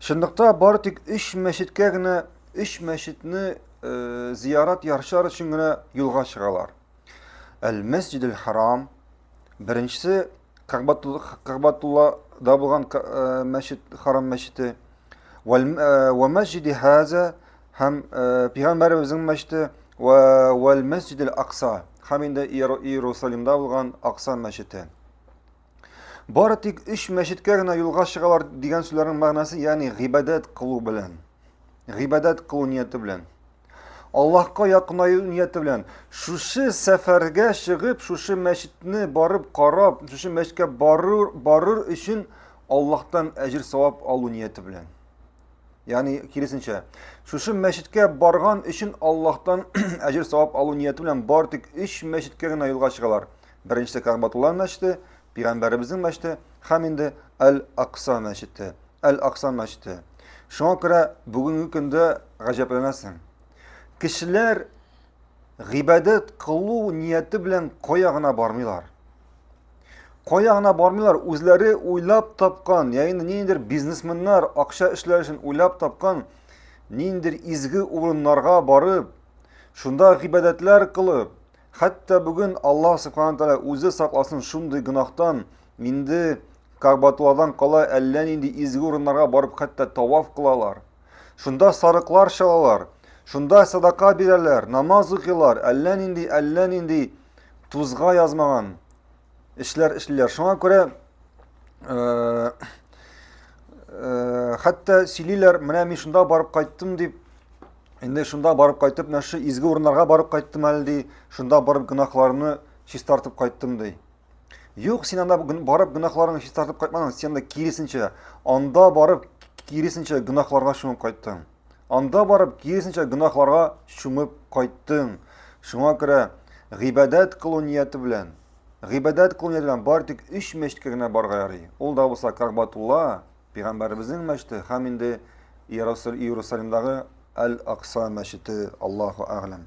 Чынлыкта бары тик өч мәчеткә генә, өч мәчетне э, зиярат яршар өчен генә юлга чыгалар. Әл-Мәсҗид харам беренчесе Кагбатуллада булган э, мәчет, харам мәчете. Ва э, мәсҗиди хаза һәм э, пигамбәребезнең мәчете ва вәл мәсҗидил акса һәм инде Иерусалимда булган Акса мәчете. Бары тик өч мәчеткә генә юлга чыгалар дигән сүзләрнең мәгънәсе, ягъни гыйбадәт кылу белән. Гыйбадәт кылу нияте белән. Аллаһка якынаю нияте белән. Шушы сәфәргә чыгып, шушы мәчетне барып карап, шушы мәчеткә барыр, барыр өчен Аллаһтан әҗир савап алу нияте белән. Ягъни киресенчә, шушы мәчеткә барган өчен Аллаһтан әҗир савап алу нияте белән бар тик 3 мәчеткә генә юлга чыгалар. Беренче Кәгъбатулла мәчете, пигамбәребезнең мәчете һәм инде Әл-Акса мәчете. Әл-Акса мәчете. Шуңа күрә бүгенге көндә гаҗәпләнәсең. Кешеләр гыйбадәт кылу нияте белән кая гына бармыйлар. Кая гына бармыйлар, үзләре уйлап тапкан, яки ниндидер бизнесменнар акча эшләр өчен уйлап тапкан ниндидер изге урыннарга барып, шунда гыйбадәтләр кылып, Хәтта бүген Аллаһ Субхану Тәала үзе сакласын шундый гөнаһтан, инде Кагбатулладан кала әллә нинди изге урыннарга барып хәтта таваф кылалар. Шунда сарыклар чалалар, шунда садака бирәләр, намаз укыйлар, әллә нинди, әллә нинди тузга язмаган эшләр эшлиләр. Шуңа күрә э, э, хәтта сөйлиләр, менә мин шунда барып кайттым дип, Инде шунда барып кайтып, менә шу изге урыннарга барып кайттым әле ди, шунда барып гөнаһларны чистартып кайттым ди. Юк, син анда барып гөнаһларыңны чистартып кайтмадың, син анда киресенчә, анда барып киресенчә гөнаһларга чумып кайттың. Анда барып киресенчә гөнаһларга чумып кайттың. Шуңа күрә гыйбадәт кылу нияте белән, гыйбадәт кылу нияте белән бар тик 3 мәчеткә генә барга ярый. Ул да булса Кагбатулла, Пәйгамбәребезнең мәчете һәм инде Иерусалимдагы Аль-Акса мәчете, Аллаһу әгъләм.